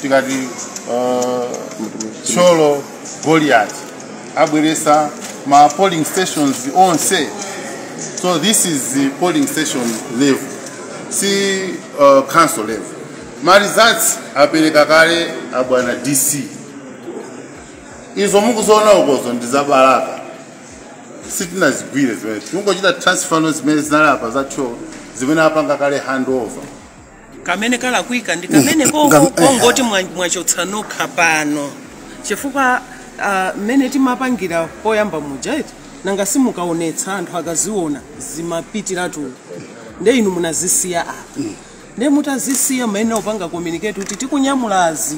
tikati uh, Thyolo Goliati abweretsa ma polling stations onse so this is the polling station level si uh, council level ma results apereka kale abwana dc izo mukuziona ukozo ndi za Balaka sitinazigwire zimene tikungochita transfer zimene zinali apa za Thyolo zimene apanga kale handover kamene kalakwika ndi kamene Mm, koko ngam- kongoti mwa- mwachotsa nokha pano chifukwa ah, mmene tinapangira poyamba muja eti nanga simukaonetsa anthu akaziona zimapitiratu nde inu munazisiya apa nde mutazisiya mumayenera kupanga communicate kuti tikunyamulazi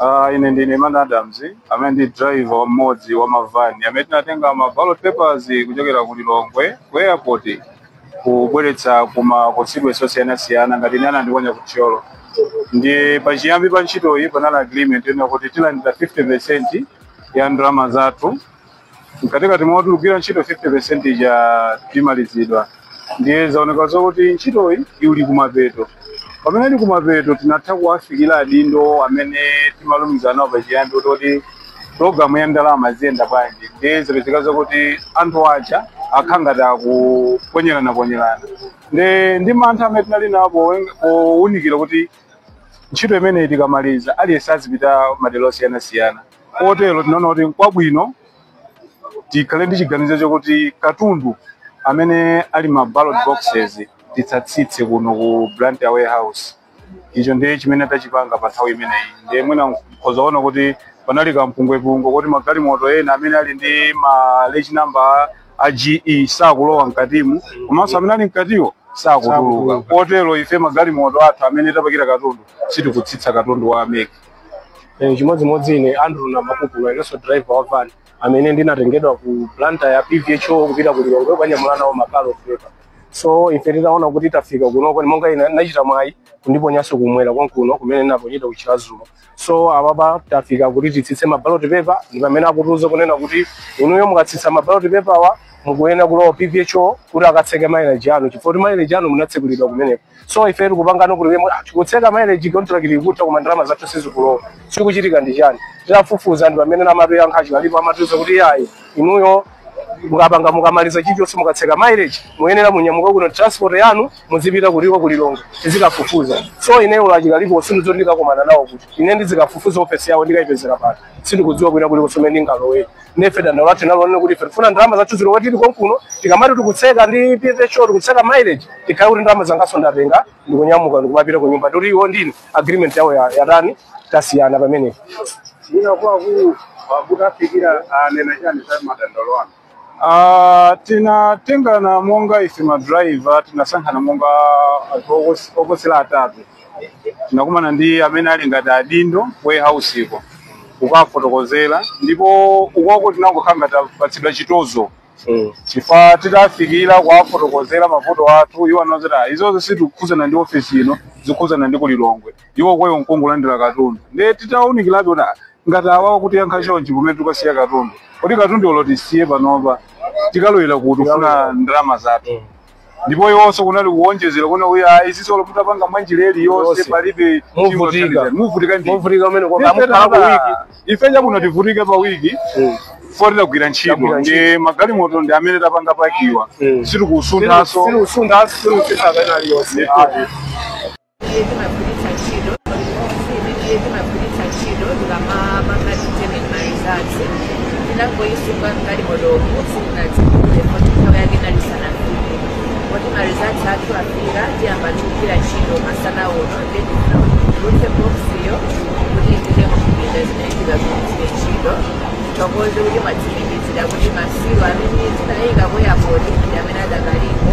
Uh, ine ndine man adams amene ndi driver mmodzi wa mavani amene tinatenga ma ballot papers kuchokera ku lilongwe ku airport kubweretsa ku ma constituency osiyanasiyana ngati ine anandiponya ku thyolo ndi pachiyambi pa ntchitoyi panali agreement ina kuti tilandire 50 percent ya ndalama zathu mkatikati mo tikugwira ntchito 50% ija timaliziridwa ndiye zaoneka zokuti ntchitoyi ili kumapeto pamene ili kumapeto tinatha kuwafikira adindo amene timalumikizana nawo pachiyambi kuti kuti programu ya ndalama iziyenda bwanji ndiye zapezeka zokuti anthu aja akhala ngati akuponyerana-ponyerana ndi ndi mantha amene tinali nawo powen- powunikira kuti ntchito imeneyi tikamaliza aliyense azipita madera osiyanasiyana kotero tinaona kuti nkwabwino tikhale ndi chiganizo chokuti katundu amene ali ma ballot boxes tisatsitse kuno ku Blantyre warehouse icho ndiye chimene tachipanga pa nthawi imeneyi ndiye mwina mkhoza kuona kuti panali kampungwepungwe kuti magalimoto ena amene ali ndi ma reg number a MG sakulowa mkatimu komanso amene ali mkatiwo sakutuluka kotero ife magalimoto athu amene tapakira katundu sitikutsitsa katundu wa a MEC Eh, chimodzimodzi ine andrew namakupulo inenso driver wa van amene ndinatengedwa ku Blantyre ya pvho kupita ku lilongwe kukanyamula nawo ma ballot paper so ife titaona kuti tafika kunoko monga ine ndinachita mwayi kundiponyanso kumwera konkuno kumene ndinaponyedwa ku Chiradzulu so apapa tafika kuti titsitse ma ballot paper ndi pamene akutiuza kunena kuti inuyo mukatsitsa ma ballot paper-wa mukuyenera kulowa pvho kuti akatseke mileage anu chifukwa kuti mileage anu munatsekulidwa kumeneko so ife tikupangano kuti wemwe ah, tikutseka mileage contract ikutha koma ndalama zathu sizikulowa chikuchitika ndi chani titafufuza ndi pamene namatu yankha achikalipo amatiuza kuti yayi inuyo mukapanga mukamaliza chilichonse mukatseka mileage muyenera munyamuke kuno transport yanu muzipita kuliko ku Lilongwe muzikafufuza so ineyo lachikalipo sindizo ndikakomana nawo kuti ine ndizikafufuza ofesi yawo ndikayipezera pano sindikudziwa kwina kuliko so mmene ndingalowere nde ife dandaulo lathu linalonena kuti ife tifuna ndalama zathu zilowere tili konkuno tikamati tikutseka ndi PVHO tikutseka mileage tikhale kuti ndalama zangaso ndatenga ndikunyamuka ndikumapita ku nyumba koti iwo ndiye agreement yawo ya- yatani tasiyana pamenepo Mwina kwa akuluakulu mutafikira anena chani za madandaulo anu. Ah, tinatengana monga ife madriver tinasankhana monga anthu okos- okosera atatu tinakumana ndi amene ali ngati adindo warehouse iko kukafotokozera ndipo ukoko tinangokhala ngati tapatsidwa chitonzo Mm. chifukwa titafikira kuwafotokozera mavuto athu iwo anaweza kuti "Ah, izozo sizikukhudzana ndi ofesi ino zikukhudzana ndi ku Lilongwe iwo kwawo nkungolandira katundu ndiye titawunikirabe kuti "Ah, ngati awawa akutiyankha chonchi kumene tikasiya katundu kodi katundu olo tisiye panopa tikalowera kuti tikufuna ndalama zathu ndipo iwonso kunali kuwonjezera kunena kuti ayi izizi olo mutapanga mwanjira iliyonse Yonse. palibe Muvutika. chingathandizeni. muvutika ndi Muvutika kumene kwa- Ife mukhala ku tata, wiki. ife nchakuno tivutike pa wiki Mm. foti tagwira ntchito Tagwira ntchito. ndi magalimoto ndi amene tapanga packiwa Mm. sitikusunthanso Sitikusuntha, sili usisa kapena aliyonse. Ndithu. iye timagwiritsa ntchito iye timagwiritsa ntchito tikamapanga determine my results tinangoyisunga ngati momo sitinatsegule moti nthawi yake inali isanafike moti ma results athu afika tiyamba kugwira ntchito masana uno then titulutse boksiyo kuti ipite muzipinda zimene tikagwiritse ntchito tikhoza kumatsimikizira kuti ma seal amene tinayika ku airport ndi amene adakalipo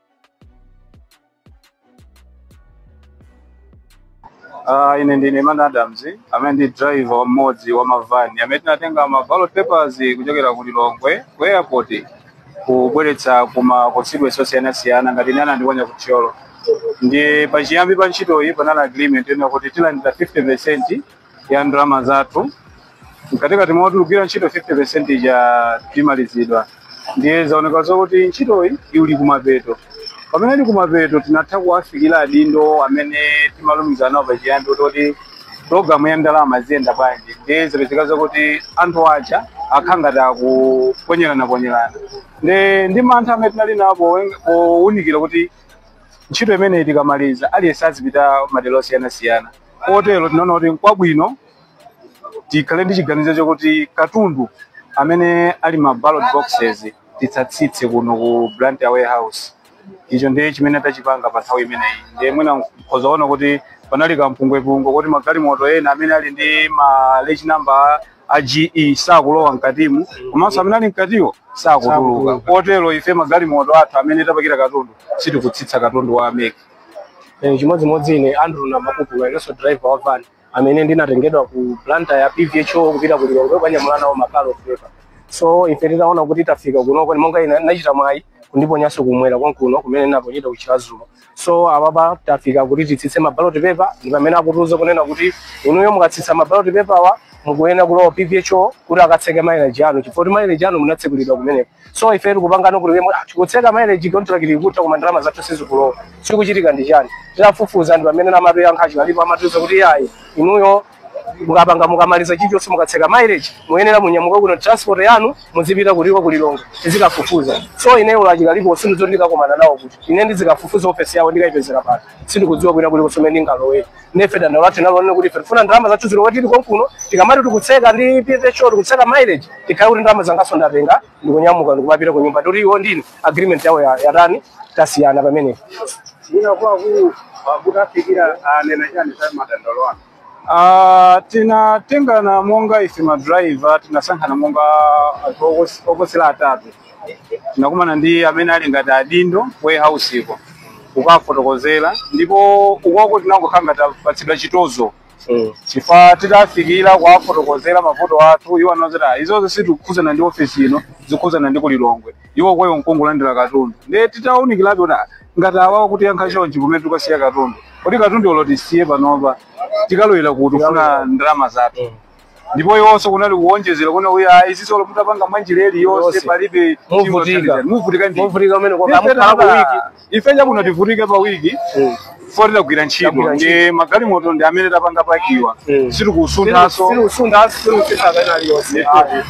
Uh, ine ndine Iman Adams amene ndi driver wa mmodzi wa mavani amene tinatenga ma ballot papers kuchokera ku Lilongwe ku airport kubweretsa ku ma constituency osiyanasiyana ngati ine anandiponya ku Thyolo ndi pachiyambi pa ntchitoyi panali agreement yonena kuti tilandira 50% ya ndalama zathu mkatikati moti tikugwira ntchito 50% ija timalizidwa ndiye zaoneka zokuti ntchitoyi ili kumapeto pamene ili kumapeto tinatha kuwafikira adindo amene timalumikizana nawo pachiyambi kuti programu ya ndalama ziyenda bwanji ndiye zapezeka zokuti anthu aja akhala ngati akuponyerana-ponyerana ndi ndi mantha amene tinali nawo powen- powunikira kuti ntchito imeneyi tikamaliza aliyense azipita madera osiyanasiyana kotero tinaona kuti nkwabwino tikhale ndi chiganizo chakuti katundu amene ali ma ballot boxes tisatsitse kuno ku Blantyre warehouse icho ndiye chimene tachipanga pa nthawi imeneyi ndiye mwina mkhoza kuona kuti panali kampungwepungwe kuti magalimoto ena amene ali ndi ma reg number a GE sakulowa mkatimu komanso amene ali mkatiwo sakutuluka kotero ife magalimoto athu amene tapakira katundu sitikutsitsa katundu wa a MEC Eh, chimodzimodzi ine andrew namakupulo inenso driver wa van amene ndinatengedwa ku Blantyre ya pvho kupita ku lilongwe kukanyamula nawo mabaloti pepa so ife titaona kuti tafika kunoko monga ine nachita mwayi kundiponyanso kumwera konkuno kumene ndinaponyedwa ku chiradzulu so apapa tafika kuti titsitse mabaloti pepa ndi pamene akutiuza kunena kuti inuyo mukatsitsa mabaloti pepawa mukuyenera kulowa pvho kuti akatseke mileage yanu chifukwa kuti mileage yanu munatsekulidwa kumeneko so ife tikupangana kuti tikutseka mileage contract ikutha koma ndalama zathu sizikulowa chikuchitika ndi chani titafufuza ndi pamene amatiyankha achikalipo amatiuza kuti yayi inuyo mukapanga mukamaliza chilichonse mukatseka mileage muyenera munyamuka kuno transport yanu muzipita kuliko kulilongwe tizikafufuza so ineyo lachikalipo sindizoti ndikakomana nawo kuti ine ndizikafufuza ofesi yawo ndikayipezera pano sindikudziwa kwina kulikonse komwe ndingalowe nefe dandaulo lathu nalonena kuti ife tifuna ndalama zathu zilowere tili konkuno tikamati tikutseka ndi pvho tikutseka mileage tikhale kuti ndalama zangaso ndatenga ndikunyamuka ndikumapita ku nyumba ndoti iwo ndini agreement yawo ya- yatani tasiyana pamenepo Nanga kwa awo, mutawafikira, anena chani za madandaulo anu. Ah, tinatengana monga ife madriver tinasankhana monga anthu okos- oposera atatu tinakumana ndi amene ali ngati adindo warehouse uko kukafotokozera ndipo ukoko tinangokhala ngati tapatsidwa chitonzo chifukwa titafikira kuwafotokozera mavuto athu iwo anauza izozo sitikukhudzana ndi ofesi ino zikukhudzana ndi kulilongwe iwo kwawo nkongolandira katundu ndiye titawunikirabe kuti ah, ngati awawa akutiyankha chonchi kumene tikasiya katundu kuti katundu olo tisiye panopa tikalowera kuti kufuna ndalama zathu ndipo iwonso kunali kuwonjezera kunena yayi "Ah, izinso olo mutapanga mwanjira ili yonse Yonse. palibe Muvutika. muvutika ndi Muvutika mmene kwa- amukhala ku wiki. ife chani kuno tivutike pa wiki Mm. poti tagwira ntchito Tagwira ndi magalimoto ndi amene tapanga pakiwa Mm. sitikusunthanso Sitikusunthanso, sitikusuntha kapena aliyonse. Ndithu.